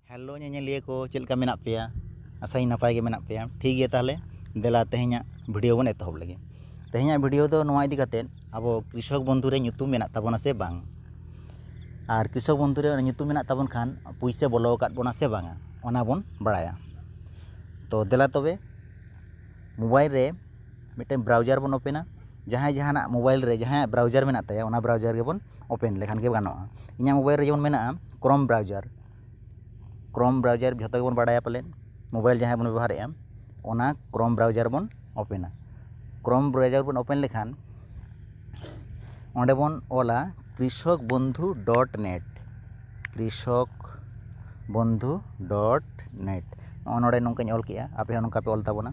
hello ᱧᱮᱧᱮᱞᱤᱭᱟᱹ ᱠᱚ ᱪᱮᱫ ᱞᱮᱠᱟ ᱢᱮᱱᱟᱜ ᱯᱮᱭᱟ ᱟᱥᱟᱭᱟᱹᱧ ᱱᱟᱯᱟᱭ ᱜᱮ ᱢᱮᱱᱟᱜ ᱯᱮᱭᱟ ᱴᱷᱤᱠ ᱜᱮᱭᱟ ᱛᱟᱦᱚᱞᱮ ᱫᱮᱞᱟ ᱛᱮᱦᱮᱧᱟᱜ ᱵᱷᱤᱰᱤᱭᱳ ᱵᱚᱱ ᱮᱛᱚᱦᱚᱵ ᱞᱮᱜᱮ ᱛᱮᱦᱮᱧᱟᱜ ᱵᱷᱤᱰᱤᱭᱳ ᱫᱚ ᱱᱚᱣᱟ ᱤᱫᱤ ᱠᱟᱛᱮ ᱟᱵᱚ ᱠᱨᱤᱥᱚᱠ ᱵᱚᱱᱫᱷᱩ ᱨᱮ ᱧᱩᱛᱩᱢ ᱢᱮᱱᱟᱜ ᱛᱟᱵᱚᱱᱟ ᱥᱮ ᱵᱟᱝ ᱟᱨ ᱠᱨᱤᱥᱚᱠ ᱵᱚᱱᱫᱷᱩ ᱨᱮ ᱧᱩᱛᱩᱢ ᱢᱮᱱᱟᱜ ᱛᱟᱵᱚᱱ ᱠᱷᱟᱱ ᱯᱩᱭᱥᱟᱹ ᱵᱚᱞᱚ ᱟᱠᱟᱫ ᱵᱚᱱᱟ ᱥᱮ ᱵᱟᱝᱟ ᱚᱱᱟ ᱵᱚᱱ ᱵᱟᱲᱟᱭᱟ ᱛᱚ ᱫᱮᱞᱟ ᱛᱚᱵᱮ ᱢᱳᱵᱟᱭᱤᱞ ᱨᱮ ᱢᱤᱫᱴᱮᱱ ᱵᱨᱟᱣᱡᱟᱨ ᱵᱚᱱ ᱳᱯᱮᱱᱟ ᱡᱟᱦᱟᱸᱭ ᱡᱟᱦᱟᱱᱟᱜ ᱢᱳᱵᱟᱭᱤᱞ ᱨᱮ ᱡᱟᱦᱟᱸᱭᱟᱜ ᱵᱨᱟᱣᱡᱟᱨ ᱢᱮᱱᱟᱜ ᱛᱟᱭᱟ ᱚᱱᱟ ᱵᱨᱟᱣᱡᱟᱨ ᱜᱮᱵᱚᱱ ᱳᱯᱮᱱ ᱞᱮᱠᱷᱟᱱ ᱜᱮ ᱜᱟᱱᱚᱜᱼᱟ ᱤᱧᱟᱹᱜ ᱢᱳᱵᱟᱭᱤᱞ ᱨᱮ ᱡᱮᱢᱚᱱ ᱢᱮᱱᱟᱜᱼᱟ ᱠᱨᱳᱢ ᱵᱨᱟᱣᱡᱟᱨ ᱠᱨᱳᱢ ᱵᱨᱟᱣᱡᱟᱨ ᱡᱷᱚᱛᱚ ᱜᱮᱵᱚᱱ ᱵᱟᱲᱟᱭᱟ ᱯᱟᱞᱮᱱ ᱢᱳᱵᱟᱭᱤᱞ ᱡᱟᱦᱟᱸᱭ ᱵᱚᱱ ᱵᱮᱵᱚᱦᱟᱨᱮᱫᱼᱟ ᱚᱱᱟ ᱠᱨᱳᱢ ᱵᱨᱟᱣᱡᱟᱨ ᱵᱚᱱ ᱳᱯᱮᱱᱟ ᱠᱨᱳᱢ ᱵᱨᱟᱣᱡᱟᱨ ᱵᱚᱱ ᱳᱯᱮᱱ ᱞᱮᱠᱷᱟᱱ ᱚᱸᱰᱮ ᱵᱚᱱ ᱚᱞᱟ Krishak Bandhu dot net Krishak Bandhu dot net ᱱᱚᱜᱼᱚᱭ ᱱᱚᱰᱮ ᱱᱚᱝᱠᱟᱧ ᱚᱞ ᱠᱮᱫᱼᱟ ᱟᱯᱮ ᱦᱚᱸ ᱱᱚᱝᱠᱟ ᱯᱮ ᱚᱞ ᱛᱟᱵᱚᱱᱟ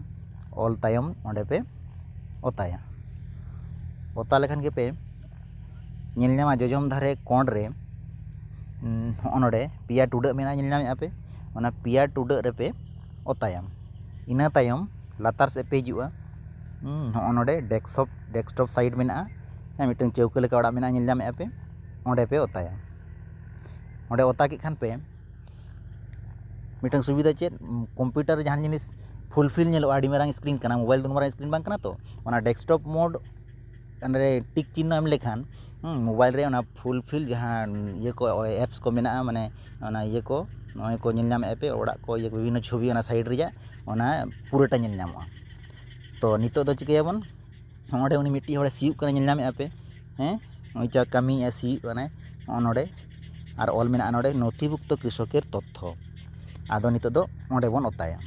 ᱚᱞ ᱛᱟᱭᱚᱢ ᱚᱸᱰᱮ ᱯᱮ ᱚᱛᱟᱭᱟ ᱚᱛᱟ ᱞᱮᱠᱷᱟᱱ ᱜᱮᱯᱮ ᱧᱮᱞ ᱧᱟᱢᱟ ᱡᱚᱡᱚᱢ ᱫᱷᱟᱨᱮ ᱠᱚᱬ ᱨᱮ ᱦᱚᱸᱜᱼᱚᱭ ᱱᱚᱰᱮ ᱯᱮᱭᱟ ᱴᱩᱰᱟᱹᱜ ᱢᱮᱱᱟᱜᱼᱟ ᱧᱮᱞ ᱧᱟᱢᱮᱫᱼᱟ ᱯᱮ ᱚᱱᱟ ᱯᱮᱭᱟ ᱴᱩᱰᱟᱹᱜ ᱨᱮᱯᱮ ᱚᱛᱟᱭᱟ ᱤᱱᱟᱹ ᱛᱟᱭᱚᱢ ᱞᱟᱛᱟᱨ ᱥᱮᱫ ᱯᱮ ᱦᱤᱡᱩᱜᱼᱟ ᱦᱚᱸᱜᱼᱚᱭ ᱱᱚᱰᱮ ᱰᱮᱠᱥᱚᱯ ᱰᱮᱠᱥᱴᱚᱯ ᱥᱟᱭᱤᱰ ᱢᱮᱱᱟᱜᱼᱟ ᱢᱤᱫᱴᱟᱹᱝ ᱪᱟᱹᱣᱠᱟᱹ ᱞᱮᱠᱟ ᱚᱲᱟᱜ ᱢᱮᱱᱟᱜᱼᱟ ᱧᱮᱞ ᱧᱟᱢᱮᱫᱼᱟ ᱯᱮ ᱚᱸᱰᱮ ᱯᱮ ᱚᱛᱟᱭᱟ ᱚᱸᱰᱮ ᱚᱛᱟ ᱠᱮᱫ ᱠᱷᱟᱱ ᱯᱮ ᱢᱤᱫᱴᱟᱝ ᱥᱩᱵᱤᱫᱟ ᱪᱮᱫ ᱠᱚᱢᱯᱤᱭᱩᱴᱟᱨ ᱨᱮ ᱡᱟᱦᱟᱱ ᱡᱤᱱᱤᱥ ᱯᱷᱩᱞ ᱯᱷᱤᱞ ᱧᱮᱞᱚᱜᱼᱟ ᱟᱹᱰᱤ ᱢᱟᱨᱟᱝ ᱥᱠᱨᱤᱱ ᱠᱟᱱᱟ ᱢᱳᱵᱟᱭᱤᱞ ᱫᱚ ᱩᱱ ᱢᱟᱨᱟᱝ ᱥᱠᱨᱤᱱ ᱵᱟᱝ ᱠᱟᱱᱟ ᱛᱚ ᱚᱱᱟ ᱰᱮᱥᱠᱴᱚᱯ ᱢᱳᱰ ᱚᱸᱰᱮ ᱴᱤᱠ ᱪᱤᱱᱦᱟᱹ ᱮᱢ ᱞᱮᱠᱷᱟᱱ ᱢᱳᱵᱟᱭᱤᱞ ᱨᱮ ᱚᱱᱟ ᱯᱷᱩᱞ ᱯᱷᱤᱞ ᱡᱟᱦᱟᱸ ᱤᱭᱟᱹ ᱠᱚ ᱮᱯᱥ ᱠᱚ ᱢᱮᱱᱟᱜᱼᱟ ᱢᱟᱱᱮ ᱚᱱᱟ ᱤᱭᱟᱹ ᱠᱚ ᱱᱚᱜᱼᱚᱭ ᱠᱚ ᱧᱮᱞ ᱧᱟᱢᱮᱫᱼᱟ ᱯᱮ ᱚᱲᱟᱜ ᱠᱚ ᱤᱭᱟᱹ ᱠᱚ ᱵᱤᱵᱷᱤᱱᱱᱚ ᱪᱷᱚᱵᱤ ᱚᱱᱟ ᱥᱟᱭᱤᱰ ᱨᱮᱭᱟᱜ ᱚᱱᱟ ᱯᱩᱨᱟᱹᱴᱟ ᱧᱮᱞ ᱧᱟᱢᱚᱜᱼᱟ ᱛᱚ ᱱᱤᱛᱚᱜ ᱫᱚ ᱪᱤᱠᱟᱹᱭᱟᱵᱚᱱ ᱱᱚᱸᱰᱮ ᱩᱱᱤ ᱢᱤᱫᱴᱤᱡ ᱦᱚᱲᱮ ᱥᱤᱭᱳᱜ ᱠᱟᱱᱟ ᱧᱮᱞ ᱧᱟᱢᱮᱫᱼᱟ ᱯᱮ ᱦᱮᱸ ᱱᱩᱭ ᱡᱟ ᱠᱟᱹᱢᱤᱭᱮᱫᱼᱟᱭ ᱥᱤᱭᱳᱜ ᱠᱟᱱᱟᱭ ᱱᱚᱜᱼᱚ ᱱᱚᱸᱰᱮ ᱟᱨ ᱚᱞ ᱢᱮᱱᱟᱜᱼᱟ ᱱᱚᱸᱰᱮ ᱱᱚᱛᱷᱤᱵᱷᱩᱠᱛᱚ ᱠᱨᱤᱥᱚᱠᱮᱨ ᱛᱚᱛᱛᱷᱚ ᱟᱫᱚ ᱱᱤᱛᱚᱜ ᱫᱚ ᱚᱸᱰᱮ ᱵᱚᱱ ᱚᱛᱟᱭᱟ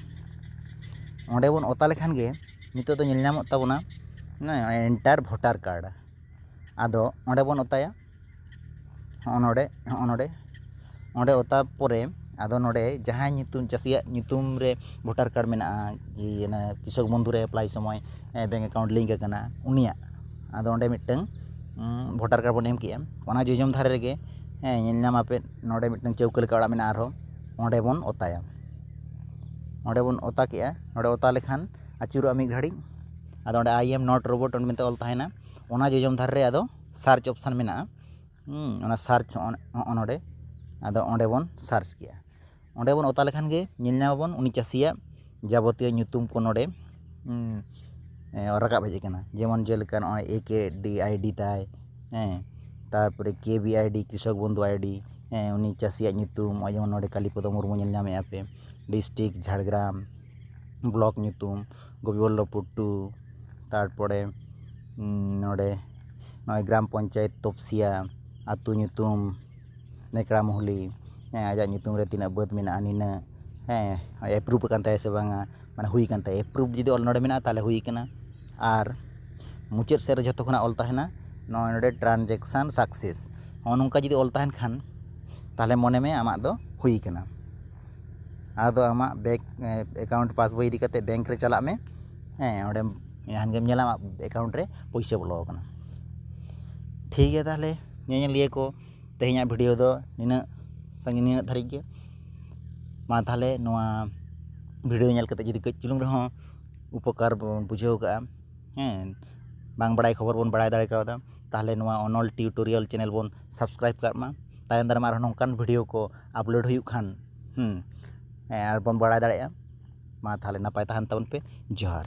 ᱚᱸᱰᱮ ᱵᱚᱱ ᱚᱛᱟ ᱞᱮᱠᱷᱟᱱ ᱜᱮ ᱱᱤᱛᱚᱜ ᱫᱚ ᱧᱮᱞ ᱧᱟᱢᱚᱜ ᱛᱟᱵᱚᱱᱟ ᱮᱱᱴᱟᱨ ᱵᱷᱳᱴᱟᱨ ᱠᱟᱨᱰ ᱟᱫᱚ ᱚᱸᱰᱮ ᱵᱚᱱ ᱚᱛᱟᱭᱟ ᱦᱚᱸᱜᱼᱚ ᱱᱚᱰᱮ ᱦᱚᱸᱜᱼᱚ ᱱᱚᱰᱮ ᱚᱸᱰᱮ ᱚᱛᱟ ᱯᱚᱨᱮ ᱟᱫᱚ ᱱᱚᱰᱮ ᱡᱟᱦᱟᱸᱭ ᱧᱩᱛᱩᱢ ᱪᱟᱹᱥᱤᱭᱟᱜ ᱧᱩᱛᱩᱢ ᱨᱮ ᱵᱷᱳᱴᱟᱨ ᱠᱟᱨᱰ ᱢᱮᱱᱟᱜᱼᱟ ᱡᱮ ᱚᱱᱮ ᱠᱨᱤᱥᱚᱠ ᱵᱚᱱᱫᱷᱩ ᱨᱮ ᱮᱯᱞᱟᱭ ᱥᱚᱢᱚᱭ ᱵᱮᱝᱠ ᱮᱠᱟᱣᱩᱱᱴ ᱞᱤᱝᱠ ᱟᱠᱟᱱᱟ ᱩᱱᱤᱭᱟᱜ ᱟᱫᱚ ᱚᱸᱰᱮ ᱢᱤᱫᱴᱟᱹᱝ ᱵᱷᱳᱴᱟᱨ ᱠᱟᱨᱰ ᱵᱚᱱ ᱮᱢ ᱠᱮᱫᱼᱟ ᱚᱱᱟ ᱡᱚᱡᱚᱢ ᱫᱷᱟᱨᱮ ᱨᱮᱜᱮ ᱦᱮᱸ ᱧᱮᱞ ᱧᱟᱢ ᱟᱯᱮ ᱱᱚᱰᱮ ᱢᱤᱫᱴᱟᱹᱝ ᱪᱟᱹᱣᱠᱟᱹ ᱞᱮᱠᱟ ᱚᱲᱟᱜ ᱢᱮᱱᱟᱜᱼᱟ ᱟᱨᱦᱚᱸ ᱚᱸᱰᱮ ᱵᱚᱱ ᱚᱛᱟᱭᱟ ᱚᱸᱰᱮ ᱵᱚᱱ ᱚᱛᱟ ᱠᱮᱫᱼᱟ ᱚᱸᱰᱮ ᱚᱛᱟ ᱞᱮᱠᱷᱟᱱ ᱟᱹᱪᱩᱨᱚᱜᱼᱟ ᱢᱤᱫ ᱜᱷᱟᱹᱲᱤᱡ ᱟᱫᱚ ᱚᱸᱰᱮ ᱟᱭ ᱮᱢ ᱱᱚᱴ ᱨᱳᱵᱳᱴ ᱢᱮᱱᱛᱮ ᱚᱞ ᱛᱟᱦᱮᱱᱟ ᱚᱱᱟ ᱡᱚᱡᱚᱢ ᱫᱷᱟᱨᱮ ᱨᱮ ᱟᱫᱚ ᱥᱟᱨᱪ ᱚᱯᱷᱥᱮᱱ ᱢᱮᱱᱟᱜᱼᱟ ᱚᱱᱟ ᱥᱟᱨᱪ ᱦᱚᱸᱜᱼᱚ ᱱᱚᱰᱮ ᱟᱫᱚ ᱚᱸᱰᱮ ᱵᱚᱱ ᱥᱟᱨᱪ ᱠᱮᱜᱼᱟ ᱚᱸᱰᱮ ᱵᱚᱱ ᱚᱛᱟ ᱞᱮᱠᱷᱟᱱ ᱜᱮ ᱧᱮᱞ ᱧᱟᱢ ᱟᱵᱚᱱ ᱩᱱᱤ ᱪᱟᱹᱥᱤᱭᱟᱜ ᱡᱟᱵᱚᱛᱤᱭᱚ ᱧᱩᱛᱩᱢ ᱠᱚ ᱱᱚᱰᱮ ᱨᱟᱠᱟᱵ ᱦᱮᱡ ᱠᱟᱱᱟ ᱡᱮᱢᱚᱱ ᱡᱮᱞᱮᱠᱟ ᱱᱚᱜᱼᱚᱭ ᱮ ᱠᱮ ᱰᱤ ᱟᱭᱰᱤ ᱛᱟᱭ ᱦᱮᱸ ᱛᱟᱨᱯᱚᱨᱮ ᱠᱮ ᱵᱤ ᱟᱭᱰᱤ ᱠᱨᱤᱥᱚᱠ ᱵᱚᱱᱫᱷᱩ ᱟᱭᱰᱤ ᱦᱮᱸ ᱩᱱᱤ ᱪᱟᱹᱥᱤᱭᱟᱜ ᱧᱩᱛᱩᱢ ᱱᱚᱜᱼᱚᱭ ᱡᱮᱢᱚᱱ ᱱᱚᱰᱮ ᱠᱟᱞᱤᱯᱚᱫᱚ ᱢᱩᱨᱢᱩ ᱧᱮᱞ ᱧᱟᱢᱮᱜᱼᱟ ᱯᱮ ᱰᱤᱥᱴᱤᱠ ᱡᱷᱟᱲᱜᱨᱟᱢ ᱵᱞᱚᱠ ᱧᱩᱛᱩᱢ ᱜᱳᱵᱤᱱᱫᱚ ᱵᱚᱞᱞᱚᱵᱷᱯᱩᱨ ᱴᱩ ᱛᱟᱨᱯᱚᱨᱮ ᱱᱚᱰᱮ ᱱᱚᱜᱼᱚᱭ ᱜᱨᱟᱢ ᱯᱚᱧᱪᱟᱭᱮᱛ ᱛᱚᱯᱥᱤᱭᱟ ᱟᱹᱛᱩ ᱧᱩᱛᱩᱢ ᱱᱮᱠᱲᱟ ᱢᱩᱦᱞᱤ ᱦᱮᱸ ᱟᱡᱟᱜ ᱧᱩᱛᱩᱢ ᱨᱮ ᱛᱤᱱᱟᱹᱜ ᱵᱟᱹᱫᱽ ᱢᱮᱱᱟᱜᱼᱟ ᱱᱤᱱᱟᱹᱜ ᱦᱮᱸ ᱮᱯᱨᱩᱵᱷ ᱟᱠᱟᱱ ᱛᱟᱭᱟ ᱥᱮ ᱵᱟᱝᱟ ᱢᱟᱱᱮ ᱦᱩᱭ ᱟᱠᱟᱱ ᱛᱟᱭᱟ ᱮᱯᱨᱩᱵᱷ ᱡᱩᱫᱤ ᱚᱞ ᱱᱚᱰᱮ ᱢᱮᱱᱟᱜᱼᱟ ᱛᱟᱦᱚᱞᱮ ᱦᱩᱭ ᱟᱠᱟᱱᱟ ᱟᱨ ᱢᱩᱪᱟᱹᱫ ᱥᱮᱫ ᱨᱮ ᱡᱷᱚᱛᱚ ᱠᱷᱚᱱᱟᱜ ᱚᱞ ᱛᱟᱦᱮᱱᱟ ᱱᱚᱜᱼᱚᱭ ᱱᱚᱰᱮ ᱴᱨᱟᱱᱡᱮᱠᱥᱮᱱ ᱥᱟᱠᱥᱮᱥ ᱱᱚᱜᱼᱚ ᱱᱚᱝᱠᱟ ᱡᱩᱫᱤ ᱚᱞ ᱛᱟᱦᱮᱱ ᱠᱷᱟᱱ ᱛᱟᱦᱚᱞᱮ ᱢᱚᱱᱮ ᱢᱮ ᱟᱢᱟᱜ ᱫᱚ ᱦᱩᱭ ᱟᱠᱟᱱᱟ ᱟᱫᱚ ᱟᱢᱟᱜ ᱵᱮᱝᱠ ᱮᱠᱟᱣᱩᱱᱴ ᱯᱟᱥᱵᱳᱭ ᱤᱫᱤ ᱠᱟᱛᱮᱫ ᱵᱮᱝᱠ ᱨᱮ ᱪᱟᱞᱟᱜ ᱢᱮ ᱦᱮᱸ ᱚᱸᱰᱮ ᱠᱷᱟᱱ ᱜᱮᱢ ᱧᱮᱞᱟ ᱟᱢᱟᱜ ᱮᱠᱟᱣᱩᱱᱴ ᱨᱮ ᱯᱩᱭᱥᱟᱹ ᱵᱚᱞᱚ ᱟᱠᱟᱱᱟ ᱴᱷᱤᱠ ᱜᱮᱭᱟ ᱛᱟᱦᱞᱮ ᱧᱮᱧᱮᱞᱤᱭᱟᱹ ᱠᱚ ᱛᱮᱦᱮᱧᱟᱜ ᱵᱷᱤᱰᱤᱭᱳ ᱫᱚ ᱱᱤᱱᱟᱹᱜ ᱥᱟᱺᱜᱤᱧ ᱱᱤᱱᱟᱹᱜ ᱫᱷᱟᱹᱨᱤᱡ ᱜᱮ ᱢᱟ ᱛᱟᱦᱞᱮ ᱱᱚᱣᱟ ᱵᱷᱤᱰᱤᱭᱳ ᱧᱮᱞ ᱠᱟᱛᱮᱫ ᱡᱩᱫᱤ ᱠᱟᱹᱡ ᱪᱩᱞᱩᱝ ᱨᱮᱦᱚᱸ ᱩᱯᱚᱠᱟᱨ ᱵᱚᱱ ᱵᱩᱡᱷᱟᱹᱣ ᱠᱟᱜᱼᱟ ᱦᱮᱸ ᱵᱟᱝ ᱵᱟᱲᱟᱭ ᱠᱷᱚᱵᱚᱨ ᱵᱚᱱ ᱵᱟᱲᱟᱭ ᱫᱟᱲᱮ ᱠᱟᱣᱫᱟ ᱛᱟᱦᱞᱮ ᱱᱚᱣᱟ ᱚᱱᱚᱞ ᱴᱤᱭᱩᱴᱳᱨᱤᱭᱟᱞ ᱪᱮᱱᱮᱞ ᱵᱚᱱ ᱥᱟᱵᱥᱠᱨᱟᱭᱤᱵᱽ ᱠᱟᱜ ᱢᱟ ᱛᱟᱭᱚᱢ ᱫᱟᱨᱟᱢ ᱟᱨᱦᱚᱸ ᱱᱚᱝᱠᱟᱱ ᱵᱷᱤᱰᱤᱭᱳ ᱠᱚ ᱟᱯᱞᱳᱰ ᱦᱩᱭᱩᱜ ᱠᱷᱟᱱ ᱟᱨ ᱵᱚᱱ ᱵᱟᱲᱟᱭ ᱫᱟᱲᱮᱭᱟᱜᱼᱟ ᱢᱟ ᱛᱟᱦᱚᱞᱮ ᱱᱟᱯᱟᱭ ᱛᱟᱦᱮᱱ ᱛᱟᱵᱚᱱ ᱯᱮ ᱡᱚᱦᱟᱨ